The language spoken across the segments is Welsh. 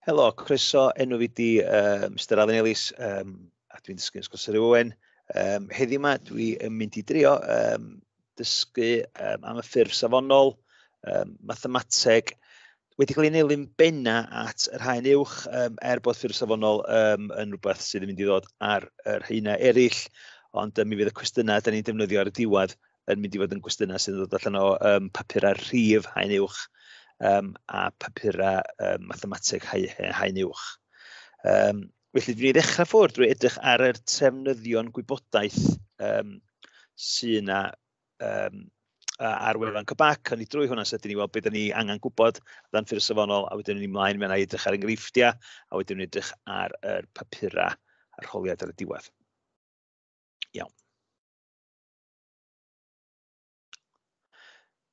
Helo, croeso, enw fi di uh, Mr Alun Ellis, um, a dwi'n dysgu Ysgol Sir Owen. Um, heddiw yma, dwi'n mynd i drio um, dysgu um, am y ffurf safonol, um, mathemateg, wedi cael ei nelyn benna at yr haen uwch, um, er bod ffurf safonol um, yn rhywbeth sydd yn mynd i ddod ar yr haenau eraill, ond um, mi fydd y cwestiynau da ni'n defnyddio ar y diwedd yn mynd i fod yn gwestiynau sy'n dod allan o um, papurau rhif haen uwch um, a papurau um, mathemateg haen uwch. Um, felly, dwi'n ei ddechrau ffwrdd drwy edrych ar yr trefnyddion gwybodaeth um, sy'n yna um, ar wefan Cybac, ond ni drwy hwnna sydyn ni weld beth ni angen gwybod dan ffyrdd safonol, a wedyn ni'n ymlaen mewn i edrych ar enghreifftiau, a wedyn ni'n edrych ar yr papurau a'r holiad ar y diwedd. Iawn.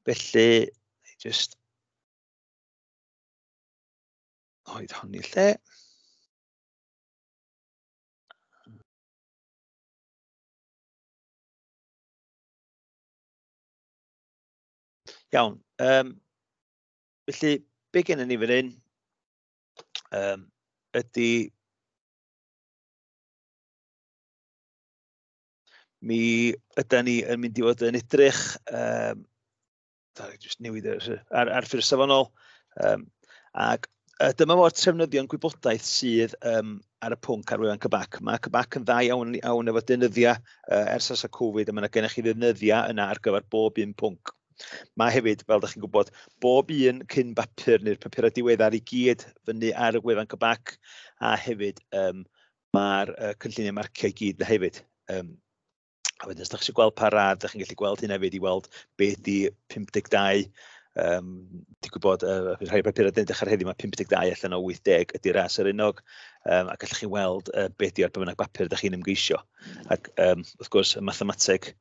Felly, just oedd hon i lle. Iawn. Um, felly, be gen i ni fan hyn um, ydy Mi ydy ni yn mynd i fod yn edrych, um, da, just newid ar, ar, ar ffyrdd safonol, um, ac uh, dyma fo'r trefnyddion gwybodaeth sydd um, ar y pwnc ar wefan Cybac. Mae Cybac yn dda iawn, iawn efo dynyddiau uh, ers as y Covid, a mae yna gennych chi ddynyddiau yna ar gyfer bob un pwnc. Mae hefyd, fel ydych chi'n gwybod, bob un cyn bapur neu'r papurau diweddar i gyd fyny ar y wefan Cybac, a hefyd um, Mae'r uh, cynlluniau marciau i gyd na hefyd. Um, a wedyn, os ydych chi'n gweld pa rad, ydych chi'n gallu gweld hyn hefyd i weld beth di 52 Um, Ti'n gwybod, uh, rhai o'r papurau dyn dechrau heddiw, mae 52 allan o 80 ydy ras yr unog, um, ac allwch chi weld uh, beth di ar bynnag bapur ydych chi'n ymgeisio. Ac um, wrth gwrs, y mathemateg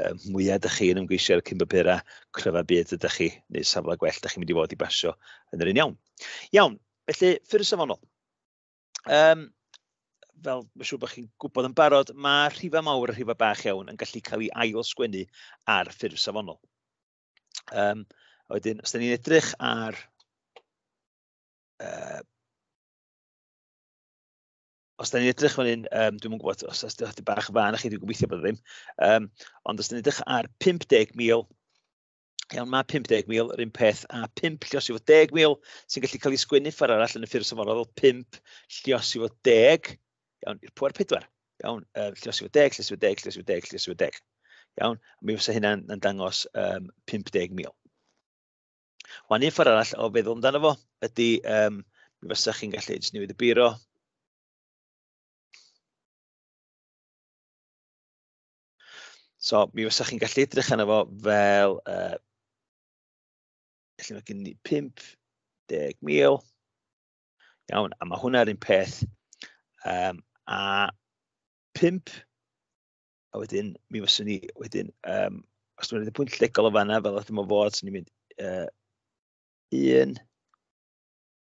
um, mwyaf ydych chi'n ymgeisio ar y cyn bapurau, cryfa byd ydych chi, neu safle gwell ydych chi'n mynd i fod i basio yn yr un iawn. Iawn, felly, ffyrdd safonol. um, fel mae'n siŵr bod chi'n gwybod yn barod, mae rhifau mawr a rhifau bach iawn yn gallu cael ei ail sgwennu ar ffurf safonol. Um, a wedyn, os da ni'n edrych ar... Uh, os da ni'n edrych fan hyn, um, dwi'n gwybod os da ni'n bach fan chi, dwi'n gobeithio bod e ddim, um, ond os da ni'n edrych ar 50,000 Iawn, mae 50,000 yr un peth a 5 llios i fod 10,000 sy'n gallu cael ei sgwennu ffordd arall yn y ffurf safonol fel 5 llios i fod 10. Iawn, i'r pwer 4. Iawn, um, llios i fod 10, llios i fod 10, llios i fod 10, llios i fod 10. Iawn, mi fysa hynna'n yn dangos um, 50,000. Wan un ffordd arall o feddwl amdano fo ydy, um, mi fysa chi'n gallu jyst newid y biro, So, mi fysa chi'n gallu edrych arno fo fel, uh, felly mae gen i 50,000. Iawn, a mae hwnna'r un peth. Um, a 5, a wedyn, mi fyswn ni, wedyn, um, os dwi'n rhaid y pwynt legol o fanna, fel ydym o fod, swn i'n mynd uh, 1,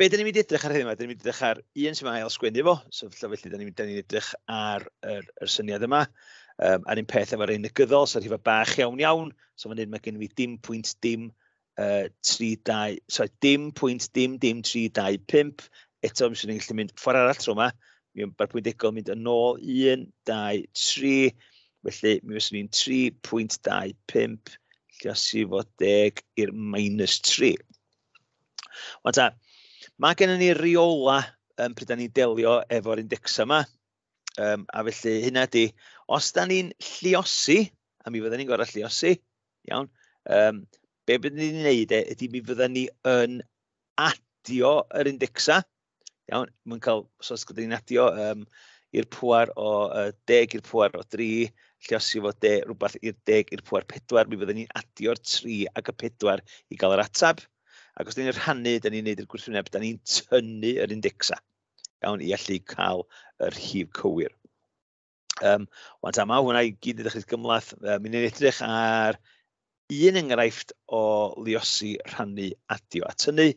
be dyn ni'n mynd i edrych ar hyn yma? Dyn ni'n mynd i edrych ar un sy'n ail sgwennu fo, so felly dyn ni'n ni edrych ar yr, yr syniad yma. Um, a'r un peth efo'r ein negyddol, so rhywbeth bach iawn iawn. So fan hyn mae gen i dim pwynt dim uh, 32, sorry, dim pwynt dim dim 325. Eto, mi sy'n ni'n gallu mynd ffordd arall tro yma. Mi o'n mae'r pwynt egol mynd yn ôl 1, 2, 3. Felly, mi fyswn ni'n 3.25 lle o si fod deg i'r minus 3. Ond ta, mae gennym ni reola um, pryd da ni'n delio efo'r indexa yma. Um, a felly hynna di, os da ni'n lliosi, a mi fydden ni'n gorau lliosi, iawn, um, be byddwn ni'n gwneud e, ydy mi fydden ni yn adio yr indexa, Iawn, mae'n cael, so os gyda ni'n adio um, i'r pwer o uh, deg i'r pwer o dri, lle os yw fod de, rhywbeth i'r deg i'r pwer pedwar, mi fyddwn ni'n adio'r tri ac y pedwar i gael yr atab. Ac os ni'n rhannu, da ni'n neud i'r gwrthwyneb, da ni'n tynnu yr indexa. Iawn, i allu cael yr rhif cywir. Um, Wan ta yma, hwnna i gyd ydych chi'n gymlaeth. Um, Mi'n edrych ar un enghraifft o liosi rhannu adio at hynny,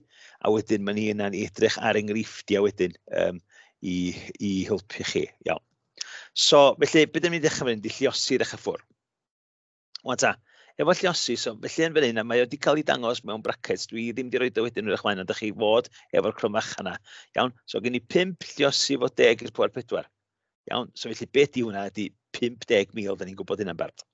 a wedyn mae'n hi yna'n edrych ar enghreifftiau wedyn um, i, i helpu chi. Iawn. So, felly, beth ydym ni'n dechrau fynd i lliosi'r eich ffwrdd? Wel ta, efo lliosi, so felly yn fan hyn, a mae wedi cael ei dangos mewn brackets, dwi ddim wedi rhoi dy wedyn yn eich mlaen, ond ydych chi fod efo'r cromach yna. Iawn, so gen i 5 lliosi fod deg i'r pwer pedwar. Iawn, so felly beth di hwnna ydy 50,000, da ni'n gwybod hynna'n barod.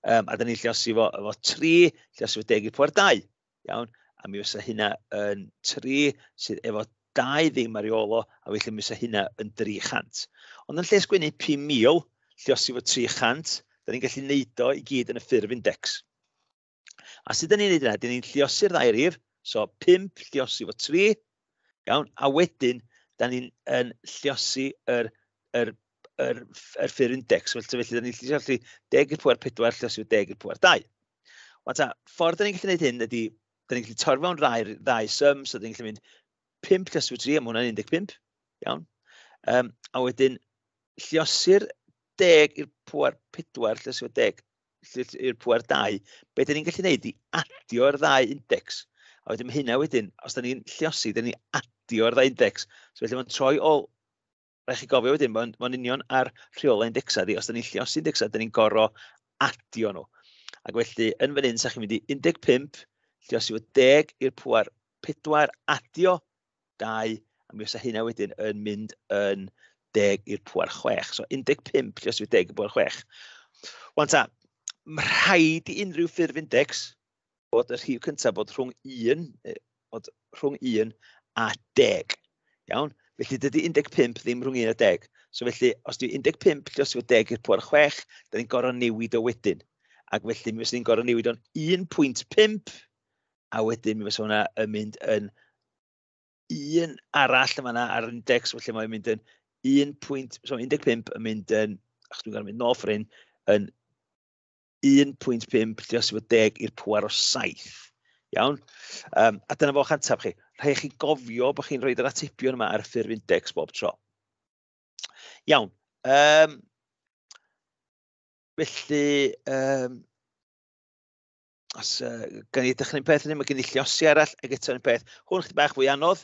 Um, a da ni'n lliosi fo, efo 3, lliosi fo deg i'r pwer dau. iawn, a mi fysa hynna yn 3 sydd efo 2 ddim ar ei ôl o, a felly mi fysa hynna yn 300. Ond yn lle sgwennu 5,000, lle os efo 300, da ni'n gallu neud o i gyd yn y ffurf index. A sut da ni'n neud yna? Da ni'n lliosi'r ddau rif, so 5 lliosi efo 3, iawn, a wedyn da ni'n lliosi yr, yr, yr, yr ffurf index, felly da ni'n lliosi 10 i'r pwer 4 lliosi efo 10 i'r pwer 2. Ond ta, ffordd da ni'n gallu gwneud hyn ydy, da ni'n gallu torfa o'n rai, rai sum, so da ni'n gallu mynd 5 cysw 3, am hwnna'n 15, iawn. Um, a wedyn, lliosir deg i'r pwer pedwar, lle sy'n deg i'r pwer dau, be dyn ni'n gallu gwneud i adio'r ddau index. A wedyn mae hynna wedyn, os da ni'n lliosi, da ni'n adio'r ddau index. So felly mae'n troi ôl rhaid chi gofio wedyn, mae'n ma union ar rheolau indexa, di, os da ni'n llios indexa, da ni'n goro adio nhw. Ac felly, yn fan hyn, sa'ch chi'n mynd i 15, llios i fod 10 i'r pwer 4, adio 2, a mi os hynna wedyn yn mynd yn 10 i'r pwer 6. So 15 llios i fod 10 i'r pwer 6. Wan ta, mae rhaid i unrhyw ffurf index bod y rhif cyntaf bod rhwng 1, bod rhwng 1 a 10. Iawn? Felly dydy 15 ddim rhwng 1 a 10. So felly, os dwi 15 lle os yw 10 i'r pwer 6, da ni'n gorau newid o wedyn. Ac felly mi fysa ni'n gorau newid o'n 1.5, a wedyn mi fysa hwnna yn mynd yn un arall yma na ar index, felly mae'n mynd yn 1.15 so yn mynd yn, ach dwi'n gorau mynd nôl ffrin, yn 1.5 dros 10 i'r pwer o 7. Iawn? Um, a dyna fo'ch antaf chi. Rhaid chi gofio bod chi'n rhoi yr atebion yma ar ffurf index bob tro. Iawn. Um, felly, um, os uh, gan i ddechrau'n peth yn hyn, mae gen i lliosi arall, ac eto'n peth. Hwn chyd bach fwy anodd,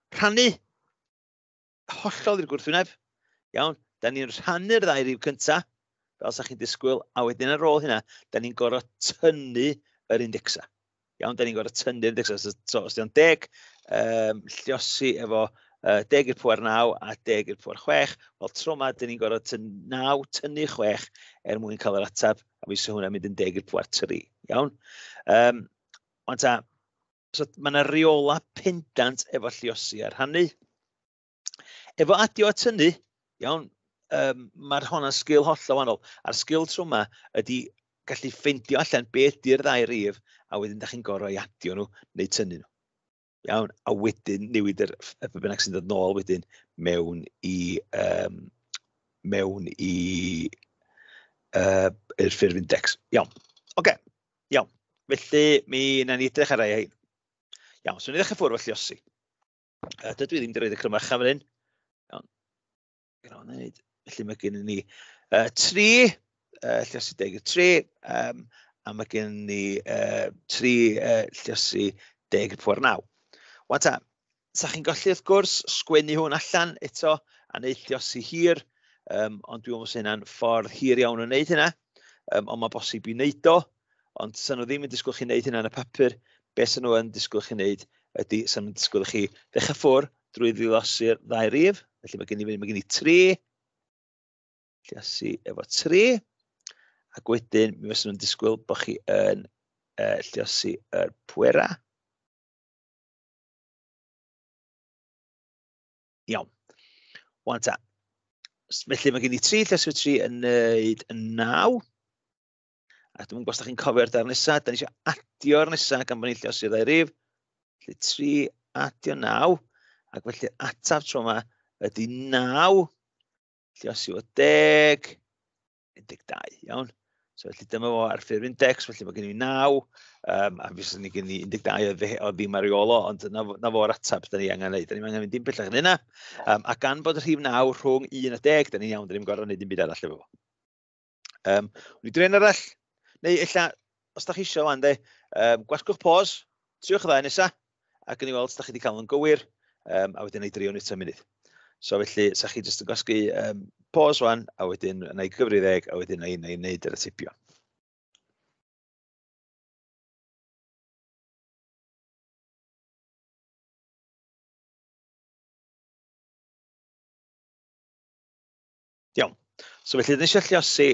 rhannu hollol i'r gwrthwyneb. Iawn, da ni'n rhannu'r ddau rif cyntaf, fel sa chi'n disgwyl, a wedyn ar ôl hynna, da ni'n gorfod tynnu yr indexa. Iawn, da ni'n gorfod tynnu'r indexa. So, so os di'n deg, um, lliosi efo uh, deg i'r pwer 9 a deg i'r pwer 6, wel tro yma, da ni'n gorfod tyn 9, tynnu 6 er mwyn cael yr ateb, a fi sy'n hwnna'n mynd yn deg i'r pwer 3. Iawn? Um, ond ta, so, mae yna reola pendant efo lliosi a rhannu. Efo adio at hynny, iawn, um, mae'r honna sgil holl o wahanol. A'r sgil trwy yma ydy gallu ffeindio allan be ydy'r ddau rif a wedyn da chi'n gorau adio nhw neu tynnu nhw. Iawn, a wedyn newid yr y be bynnag sy'n dod nôl wedyn mewn i um, mewn i uh, i'r ffurf index. Iawn. Oce. Okay. Iawn, felly mi na ni edrych ar ei hyn. Iawn, so ni ddechrau ffwrdd felly osi. Uh, dydw i ddim wedi rhoi y crymach fan hyn. Iawn, gyda wneud. Felly mae gen i ni uh, tri, uh, lliosi deg y tri, um, a mae gen i ni uh, tri uh, lliosi deg y pwer naw. Wan ta, sa chi'n gallu, wrth gwrs, sgwennu hwn allan eto a wneud lliosi hir, um, ond dwi'n meddwl bod hynna'n ffordd hir iawn o wneud hynna, um, ond mae bosib i wneud o, ond sy'n nhw ddim yn disgwyl chi wneud hynna yn y papur, beth sy'n nhw yn disgwyl chi wneud ydy sy'n nhw'n disgwyl chi ddechrau ffwr drwy ddilosi'r ddau rif, felly mae gen i, mae gen i tri, lliosi efo tri, ac wedyn mi fyddwn nhw'n disgwyl bod chi yn uh, lliosi yr pwera. Iawn. Wan ta. Felly mae gen i tri lleswyr tri yn neud yn naw. A dwi'n gwybod os chi'n cofio'r dar nesaf, da ni eisiau adio'r nesaf gan bod ni'n lleos i'r rif. Felly tri adio naw. Ac felly ataf tro yma ydy naw. Lleos i o deg. 12, iawn? So felly dyma fo ar ffurf index, felly mae gen i 9, um, a fes ni gen i 12 oedd, o ddim ar ei olo, ond na, na fo'r atab da ni angen gwneud. Da ni angen mynd dim pellach yn yna, um, a gan bod y rhif 9 rhwng 1 a 10, da ni'n iawn, da ni'n gorau gwneud dim byd arall efo fo. Um, Wn i dren arall, neu illa os da chi eisiau wan, de, um, gwasgwch pos, triwch y ddau nesa, ac yn ei weld os da chi wedi cael yn gywir, um, a wedyn ei drio nid munud. So felly, sa chi jyst yn gwasgu um, pos wan, a wedyn yn ei gyfri ddeg, a wedyn yn ei wneud yr atipio. Iawn. So felly, dyn ni eisiau lliosi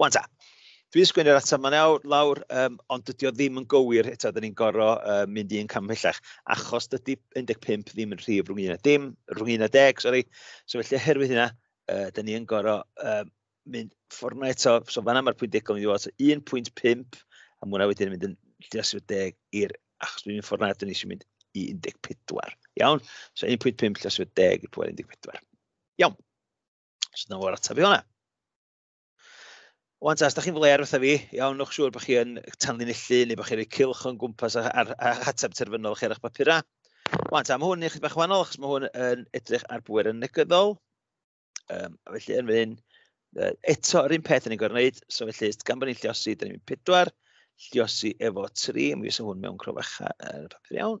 Wan ta, dwi wedi sgwynnu'r ateb ma'n awr, lawr, um, ond dydy o ddim yn gywir eto, dyn ni'n gorfod uh, mynd i'n cam pellach, achos dydy 15 ddim yn rhif rhwng 11, dim, rhwng 11, sori. So felly, oherwydd hynna, uh, dyn ni'n gorfod uh, mynd ffordd yma eto, so fanna mae'r pwynt degol yn mynd i fod, 1.5, a mwna wedyn yn mynd yn lles i'r deg i'r, achos dwi'n mynd ffordd yna, dyn ni eisiau mynd i 14. Iawn? So 1.5 lles i'r deg i'r pwynt 14. Iawn. So dyna fo'r ateb i hwnna. Wan ta, os da chi'n fler wrtho fi, iawn, nwch siŵr bod chi'n tanlinellu neu bod chi'n rhoi cilch o'n gwmpas ar, ar, ar ateb terfynol chi ar eich papurau. Wan ta, mae hwn yn eich bach wahanol achos mae hwn yn edrych ar bwer yn negyddol. Um, a felly yn fan uh, eto yr un peth yn ei gorwneud, so felly gan bod ni'n lliosi, dyn ni'n pedwar, lliosi efo tri, mi fysa hwn mewn crofacha yn y papur iawn.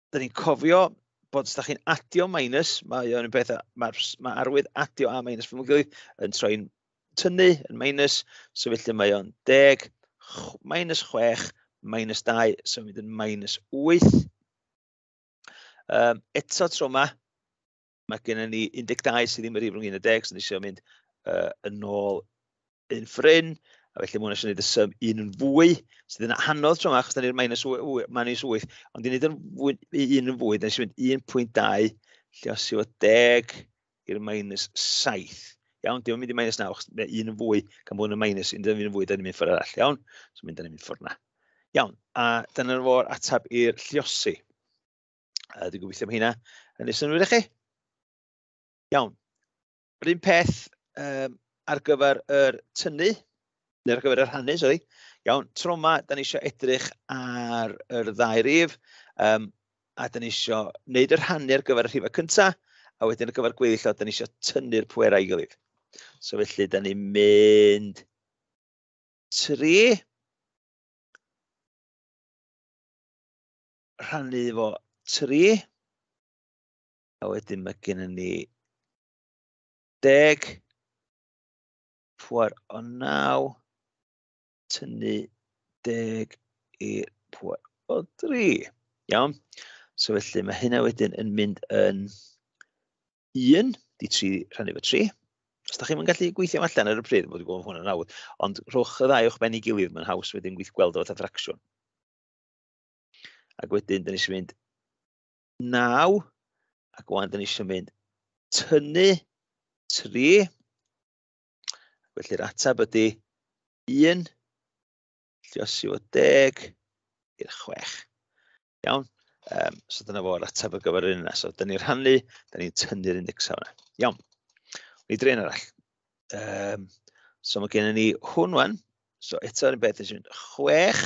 dyn ni'n cofio bod os da chi'n adio minus, mae o'n beth, mae, mae arwydd adio a minus fy mwyn yn troi'n tynnu yn minus, so felly mae o'n deg, minus chwech, minus dau, so mynd yn minus wyth. Um, eto tro yma, mae gennym ni 12 sydd ddim wedi rhwng 11 sy'n eisiau mynd uh, yn ôl yn ffrin, a felly mwyn eisiau gwneud y sym un yn fwy, sydd yn anodd tro yma, achos da ni'r minus 8, ond i wneud yn fwy, un yn fwy, da ni'n mynd 1.2, lle os yw o 10 i'r minus 7. Iawn, dim yn mynd i minus 9, achos mae un yn fwy, gan bod yn minus, un yn fwy, da ni'n mynd ffordd arall, iawn? So mynd, da ni'n mynd ffordd na. Iawn, a dyna'r fo'r atab i'r lliosi. Uh, dwi'n gobeithio am hynna. Yn ei synwyr i chi. Iawn. Yr un peth um, ar gyfer yr tynnu, neu ar gyfer y rhannu, sori. Iawn, tro yma, da ni eisiau edrych ar yr ddau rif, um, a da ni eisiau wneud yr rhannu ar gyfer y rhifau cyntaf, a wedyn ar gyfer gweddill o, da ni eisiau tynnu'r pwerau i gilydd. So felly, da ni'n mynd 3, rhannu fo tri. A wedyn mae gen i ni deg, pwer o naw, tynnu deg i'r pwer o dri. Iawn? So felly mae hynna wedyn yn mynd yn 1, di 3 rhannu fo 3. Os da chi'n mynd gallu gweithio allan ar y pryd, bod wedi gweld hwnna'n awd, ond rhowch y ddau o'ch ben i gilydd, mae'n haws wedyn gweithio gweld o fatha ffracsiwn. Ac wedyn, dyn ni eisiau mynd naw, ac wedyn dyn ni eisiau mynd tynnu tri. Felly'r ateb ydy 1, lliosi o 10 i'r 6. Iawn? Um, so dyna fo'r ateb ar gyfer yr un yna. So dyn ni'n rhannu, dyn ni'n tynnu'r index yna. Iawn. Ni drin arall. Um, so mae gennym ni hwn wan. So eto yn beth, ni'n mynd 6,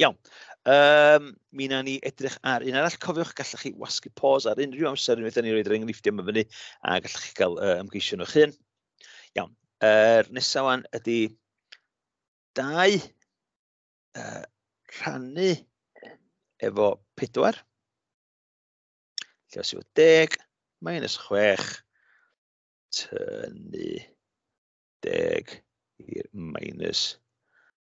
Iawn. Um, mi na ni edrych ar un arall. Cofiwch, gallwch chi wasgu pos ar unrhyw amser unwaith ni roed yr enghreifftiau yma fyny a gallwch chi gael uh, ymgeisio nhw'ch hun. Iawn. Er, nesaf wan ydy dau uh, rhannu efo pedwar. Lle os yw deg, minus chwech, tynnu deg i'r minus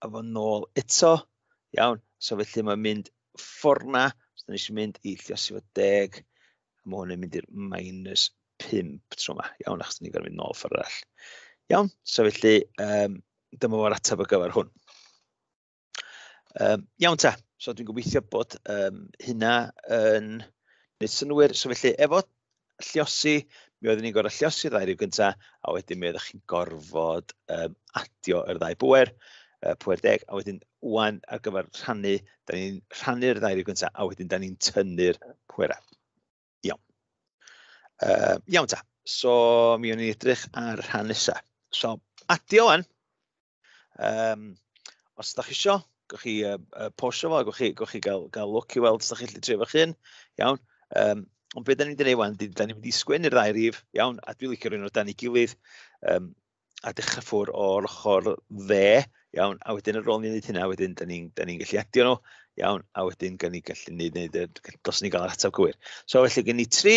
a fo nôl eto. Iawn, so felly mae'n mynd fforna, os ydyn ni'n mynd i lliosi fod deg, a mae hwn yn mynd i'r minus 5 tro yma. Iawn, achos ni'n gorfod mynd nôl ffordd arall. Iawn, so felly, um, dyma fo'r ateb o gyfer hwn. Um, iawn ta, so dwi'n gobeithio bod um, hynna yn wneud synwyr. So felly, efo llosi, mi oeddwn ni'n gorfod llosi ddau rhyw gyntaf, a wedyn mi oeddech chi'n gorfod um, adio yr ddau bwer, uh, pwer deg, a wedyn wan ar gyfer rhannu, da ni'n rhannu'r ddau rhyw gyntaf, a wedyn da ni'n tynnu'r pwerau. Iawn. Uh, iawn ta, so mi o'n i'n edrych ar rhan nesaf. So, adio wan, Um, os ydych chi isio, gwch chi uh, uh, posio fo, gwch chi, gwch chi gael, gael look i weld os ydych chi'n trefo chi'n, iawn. Um, ond beth da ni'n dweud wan, da ni'n mynd i sgwyn i'r ddau rif, iawn, a dwi'n licio rhywun o dan ei gilydd, um, a dechrau ffwr o'r ochr dde, iawn, a wedyn yr ôl ni'n gwneud hynna, wedyn da ni'n ni, gallu adio nhw, iawn, a wedyn gan ni gallu gwneud, wneud, dos ni gael yr ateb gywir. So felly gen ni tri,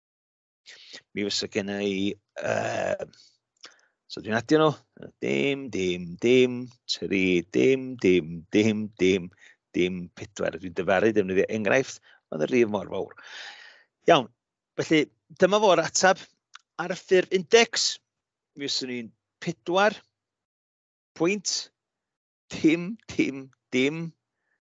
Mi fysa gen i... Uh, so dwi'n adio nhw. Dim, dim, dim, tri, dim, dim, dim, dim, dim, pedwar. Dwi'n dyfaru defnyddio enghraifft, ond y rif mor fawr. Iawn, felly dyma fo'r atab ar y ffurf index. Mi fysa ni'n pedwar pwynt, dim, dim, dim,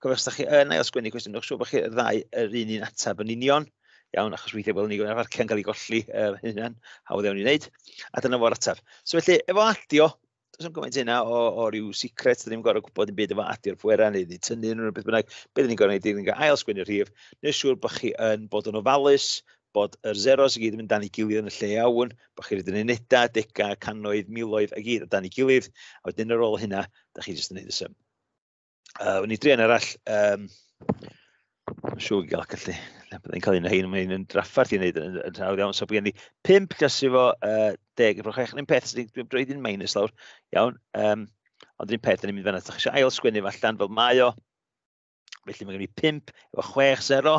Gofio, os da chi yn ail sgwennu cwestiwn, dwi'n siŵr bod chi'r ddau yr un un ateb yn union. Iawn, achos weithiau bod ni gwneud arfarciau'n cael ei golli er hynny'n hawdd iawn i wneud. A dyna fo'r ateb. So felly, efo adio, does am gymaint yna o, o ryw secret, dyn ni'n gorau gwybod yn byd efo adio'r pwerau neu ni tynnu nhw rhywbeth bynnag. Beth ni'n gorau gwneud, ni'n gorau ail sgwennu'r rhif, neu siŵr bod chi yn bod yn ofalus, bod yr zeros i gyd yn mynd dan i gilydd yn y lle iawn, bod chi'n rhaid yn unedau, degau, canoedd, miloedd a gyd o dan i gilydd, a wedyn ar ôl hynna, da chi jyst yn gwneud y sym. Uh, Wn i drian arall. Um, Siw i gael gallu. Byddai'n cael un o hyn, mae'n yn draffarth i wneud yn, yn hawdd iawn. So, byddai'n ni 5 plus i fo uh, 10 efo 6. Yn un peth, dwi'n droi ddyn minus lawr. Iawn. Um, ond un peth, ni'n mynd fanna. Ydych eisiau ail sgwennu fo allan fel mae o. Felly mae gen i 5 efo 6, 0.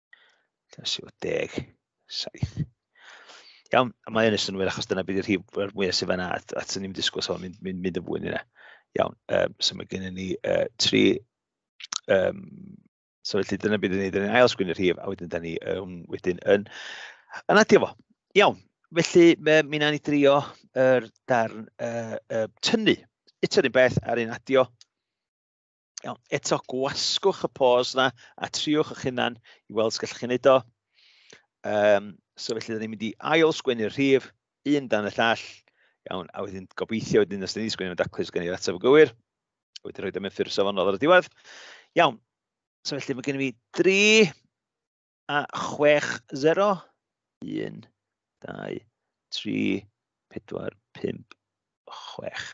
7. Iawn, a mae hyn yn synnwyr achos dyna beth yw'r rhif mwyaf sydd fanna, at, at ni'n disgwyl so mynd, mynd, mynd yn fwy yna. Iawn, um, so mae gennym ni uh, tri, um, so felly dyna beth ydyn ni, dyna ni'n ail sgwyn y rhif, a wedyn dyna ni um, wedyn yn, yn adio fo. Iawn, felly mi wnawn ni drio yr darn uh, uh, tynnu. Eto un beth ar un adio, Iawn, eto gwasgwch y pos na a triwch eich hunan i weld sgallwch chi'n neud o. Um, so felly, da ni'n mynd i ail sgwennu'r rhif, un dan y llall. Iawn, a wedyn gobeithio wedyn os da ni'n sgwennu'n daclus gen i'r ateb yn gywir. A wedyn rhoi am ffurf safonol ar y diwedd. Iawn, so felly mae gen i mi 3 a 6, 0, 1, 2, 3, 4, 5, 6.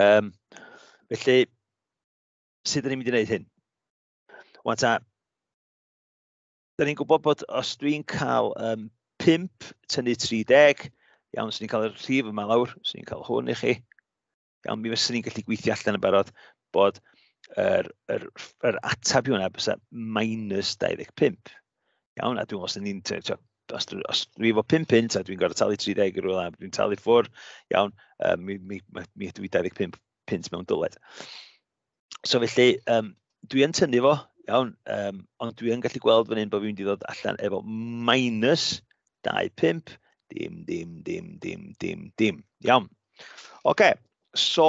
Um, felly, sut ydym ni'n mynd i wneud hyn? Wan ta, da ni'n gwybod bod os dwi'n cael um, 5 tynnu 30, iawn, swn i'n cael y rhif yma lawr, swn i'n cael hwn i chi. Iawn, mi fyswn ni'n gallu gweithio allan yn barod bod yr, yr, yr atab i hwnna bysa minus 25. Iawn, a dwi'n os ni'n... Os, os dwi efo 5 pint a dwi'n gorfod talu 30 i rywle, dwi'n talu ffwr, iawn, um, mi, mi, mi, mi ydw i 25 pint mewn dyled. So felly, um, dwi yn tynnu fo, iawn, um, ond dwi yn gallu gweld fan hyn bod fi'n mynd i ddod allan efo minus 25, dim, dim, dim, dim, dim, dim. Iawn. Oce, okay, so,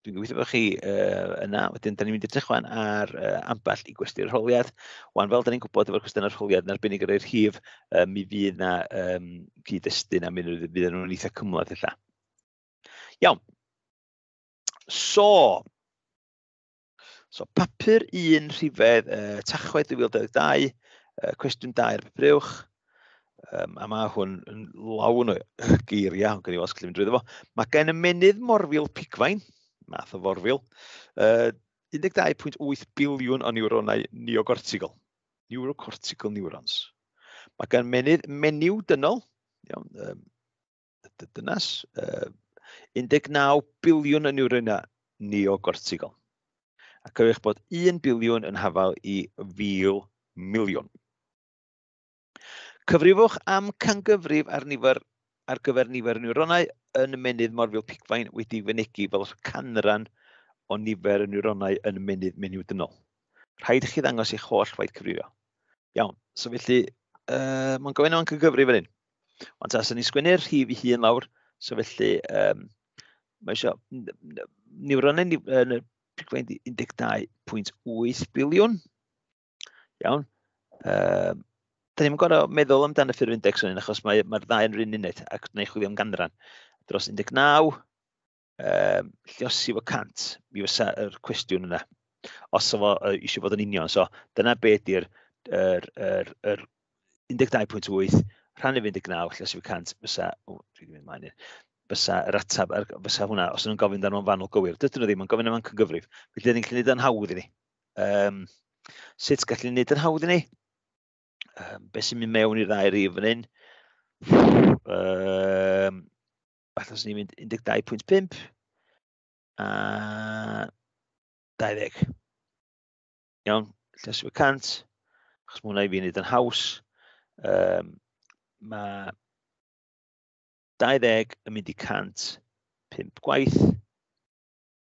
Dwi'n gweithio bod chi uh, yna. Wedyn, da ni'n mynd i edrych wan ar uh, ambell i gwesty'r rholiad. Wan, fel da ni'n gwybod efo'r cwestiynau'r rholiad, yn arbennig ar eir hif, uh, mi fydd na um, cyd-destun a mi fydd nhw'n eitha cymlaeth illa. Iawn. So, so papur un rhifedd uh, tachwedd 2022, uh, cwestiwn 2 ar papur uwch, Um, a mae hwn yn lawn o geiriau, ond gen i os gallu mynd drwy fo. Mae gen y menydd morfil pigfain, math o forfil, uh, 12.8 biliwn o niwronau neocortical, neurocortical neurons. Mae gen menydd menyw dynol, iawn, um, dynas, uh, 19 biliwn o niwronau neocortical. Ac eich bod 1 biliwn yn hafael i fil miliwn. Cyfrifwch am cangyfrif ar nifer ar gyfer nifer y niwronau yn y menydd morfil pigfain wedi fynegi fel canran o nifer y niwronau yn y menydd menyw dynol. Rhaid i chi ddangos eich holl waith cyfrifio. Iawn, so felly, uh, mae'n gofyn am cygyfrif fan hyn. Ond ta, sy'n ni sgwynnu'r rhif i hun lawr, so felly, um, mae eisiau niwronau yn y 12.8 biliwn. Iawn. Um, da ni'n gorau meddwl amdano ffurf index o'n un, achos mae'r mae ddau yn rhywun uned, ac neu chwilio am ganran. Dros 19, um, lliosi fo 100, mi fysa yr cwestiwn yna. Os o fo uh, eisiau bod yn union, so dyna be ydy'r er, er, er 12.8 rhannu 19, lle sy'n 100, fysa, o, dwi wedi mynd maen i'r, fysa yr atab, fysa hwnna, os ydyn nhw'n gofyn dan nhw'n fanol gywir, dydyn nhw ddim yn gofyn am cygyfrif, felly dydyn ni'n gallu gwneud yn hawdd i ni. Um, sut gallu wneud yn hawdd i ni? Um, be sy'n mynd mewn i'r ddau rif fan hyn? Um, Falle os ni'n mynd 12.5 a 20. Iawn, llesio 100, achos mae hwnna i fi wneud yn haws. Um, mae 20 yn mynd i 100 pimp gwaith.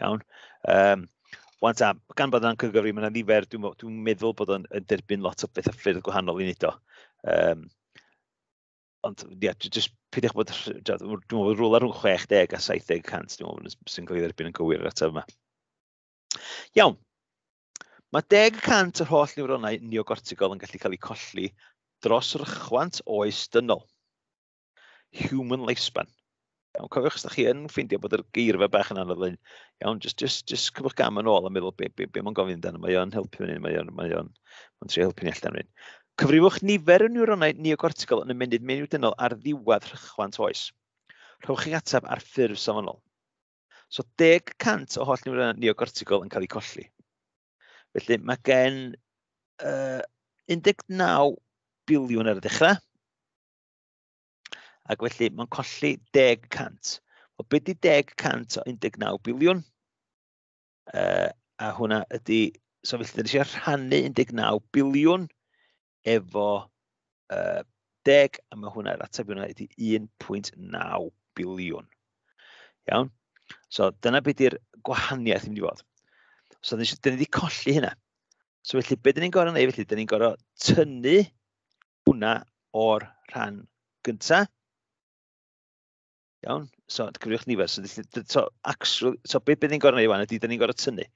Iawn. Um, Wan ta, gan bod yna'n cygyfri, mae'n nifer, dwi'n dwi meddwl bod o'n derbyn lot o beth a ffyrdd gwahanol i wneud o. Um, ond ia, yeah, jyst peidiwch bod, dwi'n meddwl bod rhywle rhwng 60 a 70 cant, dwi'n meddwl sy'n cael ei dderbyn yn gywir yr ateb yma. Iawn, mae 10 cant o'r holl niwronau neogortigol yn gallu cael eu colli dros rychwant oes dynol. human lifespan. Iawn, cofiwch, os da chi yn ffeindio bod yr geirfa bach yn anodd lein, iawn, just, just, just cyfwch gam yn ôl a meddwl be, be, be mae'n gofyn amdano, mae o'n helpu ni, mae o'n, mae o'n, mae o'n trio helpu ni allan rhywun. Cyfrifwch nifer y neuronau neocortical yn y menydd menyw-dynol ar ddiwedd rhychwant oes. Rhowch chi'n ateb ar ffurf safonol. So 10% o holl niwroniaid neocortical yn cael eu colli. Felly mae gen uh, 19 biliwn ar y dechrau, Ac felly, mae'n colli 10 cant. O beth di 10 cant o 19 biliwn? Uh, a hwnna ydy... So felly, dyn ni eisiau rhannu 19 biliwn efo uh, 10, a mae hwnna, yr ateb hwnna ydy 1.9 biliwn. Iawn? So dyna beth di'r gwahaniaeth i mynd i fod. So dyn ni wedi colli hynna. So felly, beth dyn ni'n gorau neud felly? Dyn ni'n gorau tynnu Hwna o'r rhan gyntaf. Iawn, so cyfriwch nifer. So, so, actually, so beth bydd ni'n gorau gwneud i wan ydy, da ni'n gorau tynnu.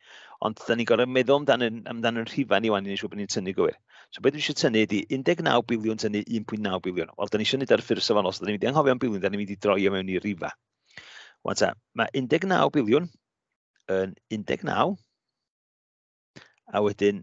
Ond da ni'n gorau meddwl amdano, amdano rhifau ni wan i ni siŵr bod ni'n tynnu gywir. So beth dwi eisiau tynnu ydy 19 biliwn tynnu 1.9 biliwn. Wel, da ni eisiau gwneud ar y ffurf safonol, so da ni'n mynd i anghofio am biliwn, da ni'n mynd i droi o mewn i rifau. Wan ta, mae 19 biliwn yn 19, a wedyn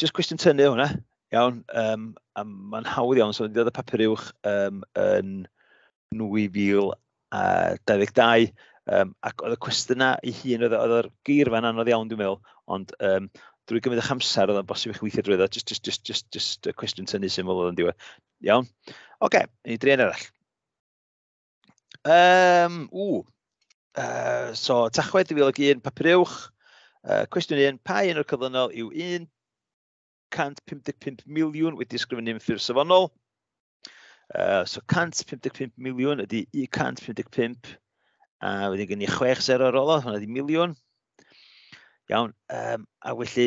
just cwestiwn tynnu hwnna, iawn, um, a mae'n hawdd iawn, so ddiodd y papur uwch um, yn 2022, um, ac oedd y cwestiynau ei hun, oedd, oedd yr geirfa yn anodd iawn, dwi'n meddwl, ond um, drwy gymryd eich amser, oedd o'n bosib eich weithio drwy ddo, just, just, just, just, just y cwestiwn tynnu syml oedd yn diwedd. Iawn? Oce, okay, ni drien arall. Um, ww. Uh, so, Tachwedd 2001, papur uwch. Uh, cwestiwn 1, pa un o'r cyflynol yw 155 miliwn wedi ysgrifennu'n ffurf safonol? Uh, so 155 miliwn ydy 155 a uh, wedyn gen i 6-0 ar ôl o, hwnna ydy miliwn. Iawn, um, a felly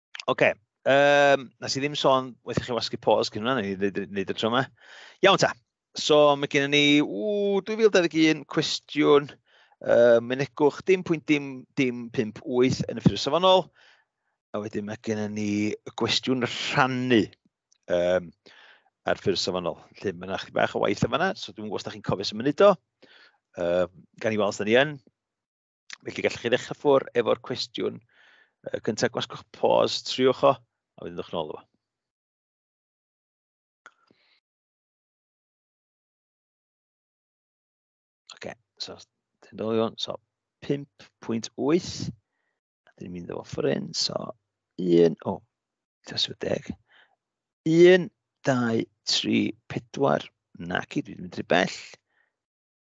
Oce, okay. um, nes i ddim sôn, weithio chi wasgu pause cyn hwnna, neu wneud y tro yma. Iawn ta, so mae gen ni, ww, 2021, cwestiwn, uh, mynegwch dim pwynt dim, dim 58 yn y ffyrdd safonol, a wedyn mae gen ni y gwestiwn rhannu um, ar ffyrdd safonol. Lle mae yna chi bach o waith yma, so dwi'n gwybod os da chi'n cofio sy'n mynd o, uh, gan i weld sy'n ni yn. Felly gallwch chi ddechrau ffwr efo'r cwestiwn uh, cyntaf, gwasgwch pause, triwch o, a wedyn ddwch nôl efo. Ok, so, dyn nôl iawn, so 5.8, a dyn ni'n mynd efo ffwr un, so 1, o, oh, tasw deg, 1, 2, 3, 4, naci, dwi'n mynd rhy bell,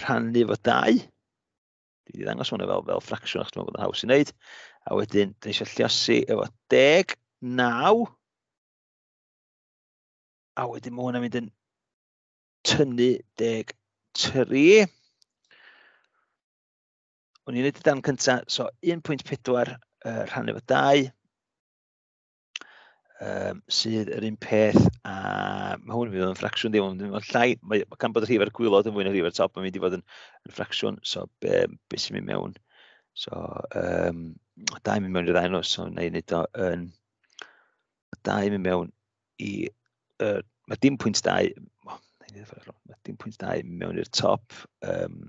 rhannu fo dau. Dwi wedi ddangos hwnna fel, fel ffracsiwn achos dwi'n meddwl bod yn haws i wneud. A wedyn, dwi eisiau lliosi efo deg, naw. A wedyn mae hwnna'n mynd yn tynnu deg tri. O'n i'n neud y dan cyntaf, so 1.4 uh, rhannu fo dau. um, sydd yr un peth a mae hwn yn mynd yn ffracsiwn ddim ond mae'n llai, mae, gan bod y rhif ar gwylod yn fwy na rhif ar top, mae'n mynd i fod yn, yn ffracsiwn, so be, be sy'n mynd mewn. So, um, da i mynd mewn i'r ddau nos, so na i wneud o yn... Da i mynd mewn i... Uh, mae dim pwynt dau... Oh, mae dim pwynt dau mewn i'r top. Um,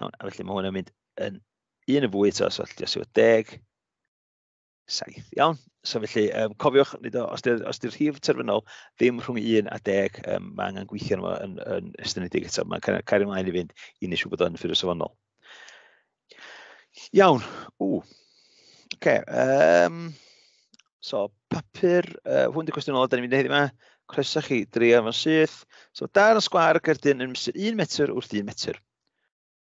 Iawn, a felly mae hwn yn mynd yn un yn fwy eto, so allai os yw deg, saith. Iawn, so felly, um, cofiwch, os di'r di rhif terfynol ddim rhwng 1 a 10, um, mae angen gweithio yma yn, yn estynedig eto. Mae'n cael ymlaen i fynd i nes bod o'n ffyrdd safonol. Iawn, ww. Oce, okay, um, so papur, uh, hwn di cwestiwn ôl, da ni'n mynd i heddi yma. Croeso chi, drio fo'n syth. So, dan y sgwar gerdyn yn 1 metr wrth 1 metr.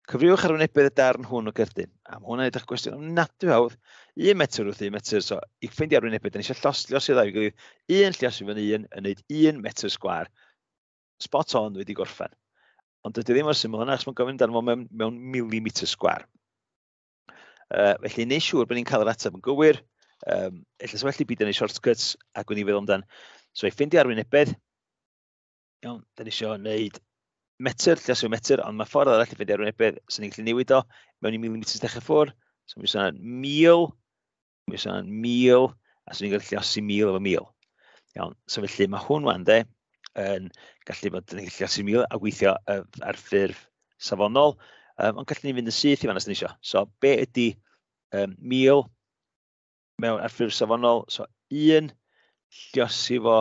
Cyfriwch arwynebedd y darn hwn o gerdyn. Am hwn a edrych gwestiwn am nadw hawdd, 1 metr wrth 1 metr, so i ffeindio arwynebedd, da ni eisiau llosglio sydd â'i gilydd, un llios i fyny un, yn wneud 1 metr sgwar. Spot on, wedi gorffen. Ond dydy ddim o'r syml yna, achos mae'n gofyn amdano fo mewn, mewn milimetr sgwar. Uh, felly, neu siŵr bod ni'n cael yr ateb yn gywir, um, efallai well i byd yn ei shortcuts, ac wedi feddwl amdano. So, i ffeindio arwynebedd, Iawn, da ni eisiau gwneud metr, lle sy'n metr, ond mae ffordd arall i fynd ar wynebedd, sy'n ni'n gallu newid o, mewn i milimetr dechrau ffwr, so mi sôn mil, mi sôn mil, a sy'n ni'n gallu llasu mil efo mil. Iawn, so felly mae hwn wan de, yn gallu bod yn gallu llasu mil a gweithio ar ffurf safonol, um, ond gallu ni fynd yn syth i fan os ni eisiau. So be ydy um, mil mewn ar ffurf safonol, so un, lliosi fo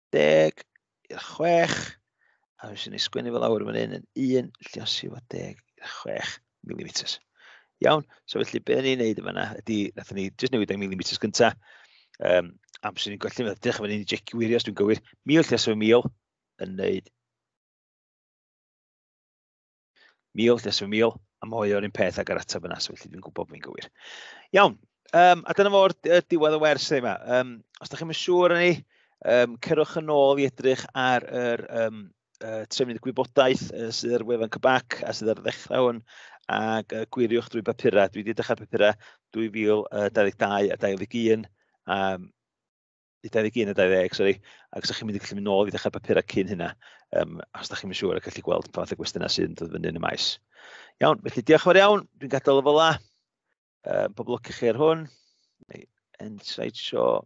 deg i'r chwech. A dwi'n sy'n ei sgwennu fel awr yn hyn yn un lliosi fod deg i'r chwech milimetr. Iawn, so felly be ni'n neud yma na, ydy, nath ni jyst newid ang milimetr gynta, um, am sy'n ni'n golli, ddech chi'n ni'n jecio wirio os dwi'n gywir, mil lliosi fo mil yn neud Mil, nes fy mil, a mae o'r un peth ag yr ateb yna, so felly dwi'n gwybod bod fi'n gywir. Iawn, um, a dyna fo'r diwedd y wers yma. Um, os da chi'n mynd siŵr yn ni, um, cerwch yn ôl i edrych ar yr um, uh, trefnydd gwybodaeth uh, sydd ar wefan Cybac a sydd ar ddechrau hwn ac uh, gwiriwch drwy bapurau. Dwi wedi dechrau bapurau 2022 a 2021 um, 21 a 20, sori, ac os chi'n mynd i gallu mynd nôl i ddechrau papurau cyn hynna, um, os ydych chi'n mynd siŵr ac gallu gweld pa fath o gwestiynau sy'n dod fyny yn y maes. Iawn, felly diolch yn fawr iawn, dwi'n gadael y fel la. Uh, pob lwc i chi ar hwn. End slideshow.